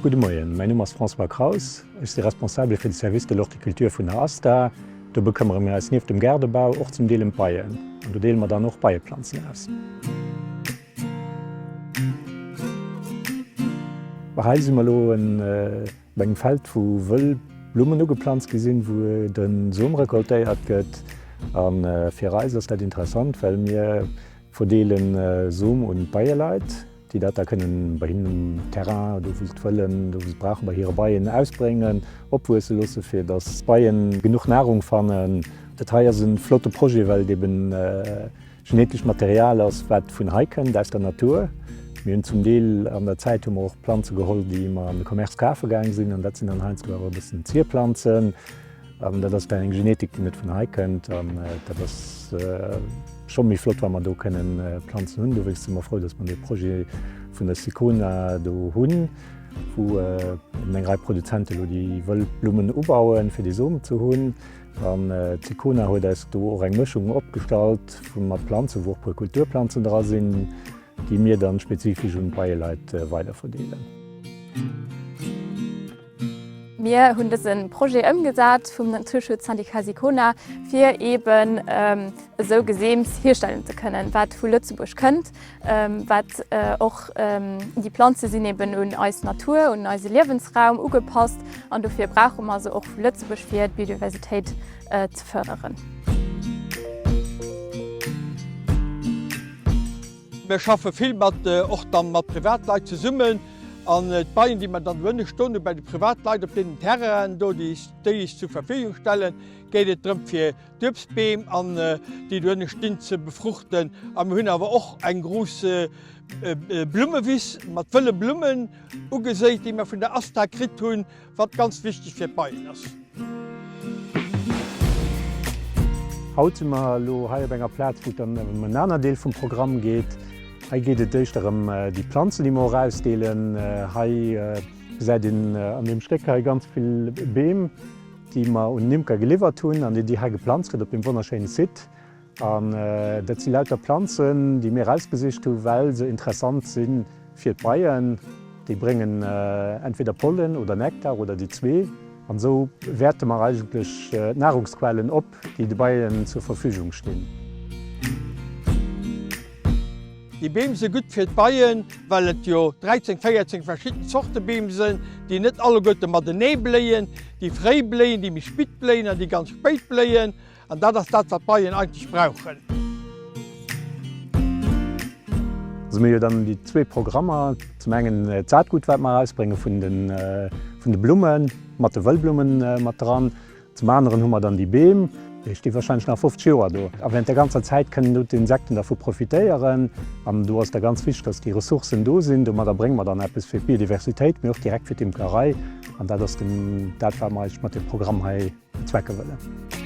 Gudde Moien, mäin Numm ass François Kraus. Ech si Responsabele fir de Service de l'Horticulture vun der ASTA. Do bekëmmere mir eis nieft dem Gaardebau och zum Deel ëm d'Beien an do deele mer dann och Beieplanzen aus. Hei si mer elo e. Op engem Feld wou wëll Blummen ugeplanzt gi sinn, wou de Som recoltéiert gëtt. A fir eis ass dat interessant, well mir verdeele Som un d'Beieleit, déi dat da kënnen bei hinnen um Terrain, do wou se et wëllen, do wou se et brauchen, bei hire Beien ausbréngen, opwuesse loosse fir datt d'Beien genuch Nahrung fannen. Dat hei ass e flotte Projet, well et eeben. Genetescht Material ass, wat vun hei kënnt, aus der Natur. Mir hunn zum Deel an der Zäit hu mer och Planze geholl, déi mer an de Commerce kafe gaang sinn. An dat sinn dann heiansdo awer e bëssen Zierplanzen. An dat ass dann eng Genetik, déi net vun hei kënnt. An dat ass scho méi flott, wa mer do kënnen Planzen hunn. Dowéinst si mer frou, datt mer dee Projet vun der Sicona do hunn, wou eng Rei Produzenten elo déi wëll Blummen ubauen, fir dee Som ze hunn. An d'Sicona huet eis do och eng Mëschung opgestallt vu mat Planzen, wou och puer Kulturplanzen dra sinn, déi mir dann spezifesch un d'Beieleit weider verdeelen. Mir hunn dësen Projet ëmgesat vum Naturschutzsyndicat Sicona fir eben esou Geseems hierstellen ze kënnen wat vu Lëtzebuerg kënnt. Wat och déi Planze sinn eben un eis Natur, un eise Liewensraum ugepasst an dofir brauche mer se och vu Lëtzebuerg fir d'Biodiversitéit ze fërderen. Mir schaffe vill mat och dann mat Privatleit zesummen an d'Beien déi mer dann do hunn, stoen bei de Privatleit op deenen Terrainen do déi ech zur Verfügung stellen, geet et drëm fir D'Uebstbeem an déi dohinne stinn ze befruchten. A mir hunn awer och eng grouss Blummewiss mat wëlle Blummen ugeséit, déi mir vun der ASTA kritt hunn, wat ganz wichteg fir d'Beien ass. Haut si mer elo hei op enger Plaz, wou et dann ëm en anert Deel vum Programm geet. Hei geet et éischter ëm déi Planzen, déi mer och ausdeelen. Hei gesäit een an deem Stéck hei ganz vill Beem. déi mer un den Imker geliwwert hunn an déi Dir hei geplanzt kritt op deem wonnerschéine Site. An dat si lauter Planzen, déi mir erausgesicht hu well se interessant si fir d'Beien. Déi bréngen entweder Pollen oder Nektar oder déi zwee. An esou wäerte mer eigentlech d'Nahrungsquellen op. déi de Beien zur Verfügung stinn. Déi Beem si gutt fir d'Beien, well et jo 13, 14 verschidden Zorte Beem sinn, déi net alleguerte matenee bléien, déi fréi bléien, déi méi spitt bléien an déi ganz spéit bléien. An dat ass dat, wat d'Beien eigentlech brauchen. Also mir hu jo dann déi zwee Programmer, zum engen d'Saatgut, wat mer erausbrénge vun de Blummen, mat de Wëllblummen mat dran. Zum aneren hu mer dann déi Beem, déi sti warscheinlech nach 50 Joer do. A während där ganzer Zäit kënnen do d'Insekten dervu profitéieren. An do ass da ganz wichteg, dass déi Ressourcen do sinn. Domadder brénge mer dann eppes fir d'Biodiversitéit, mee och direkt fir d'Imkerei. An dat ass dann dat, wat mer eigentlech mat deem Programm hei bezwecke wëllen.